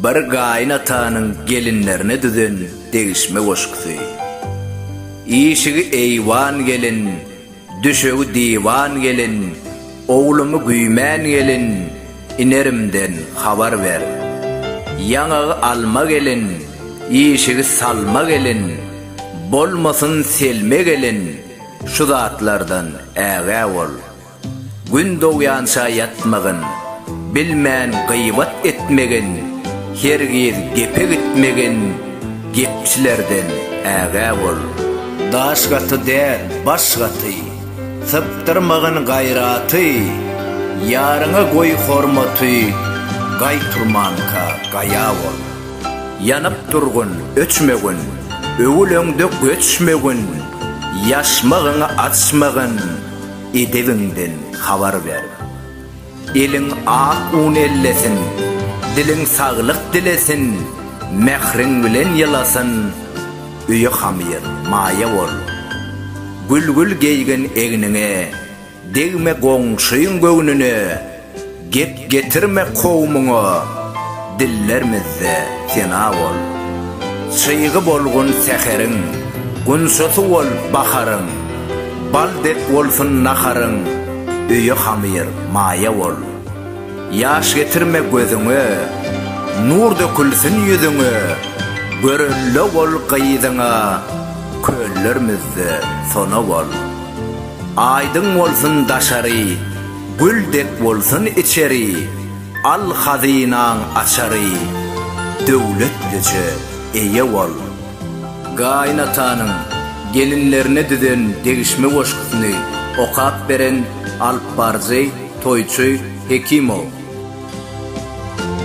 Bir gaýyn atanyň gelinlerine düzen degişme goşgusy. Işigi eýwan gelin, düşegi diwan gelin, Oglumy güýmän gelin, inerimden habar ber. Ýaňagy alma gelin, işigi salma gelin, Bolmasyn selme gelin, şu zatlardan ägä bol. Gün dogýança ýatmagyn, Bilmän gybat etmegin, Hergiz gepe gitmegin, Gepçilerden ägä bol. Daş gaty däl, baş gaty, Sypdyrmagyn gaýraty, Ýaryňa goý hormaty, Gaý turmanka, gaýa bol. Ýanyp durgun, öçmegin, Öwül öňde göçmegin, Ýaşmagyňy açmagyn, Edebiňden habar ber. Eliň ak un ellesin, Diliň saglyk dilesin, Mähriň bilen ýylasyn, Öýe hamyr, maýa bol. Gülgül geýgin egniňe, Degme goňşyň göwnüne, Gep getirme kowumyňa, Dillermizde sena bol. Çygy bolgun säheriň, Gunçasy bol baharyň, Bal dek bolsun naharyň, Öýe hamyr, maýa bol. Ýaş getirme gözüňe, Nur dökülsin ýüzüňe, Görelde bol gyzyňa, Köllermizde sona bol. Aýdyň bolsun daşary, Gül dek bolsun içeri, Al hazynaň açary, Döwletlije eýe bol. Gaýynatanyň gelinlerine düzen degişme goşgusyny okap beren alypbaryjy Toýçy Hekimow.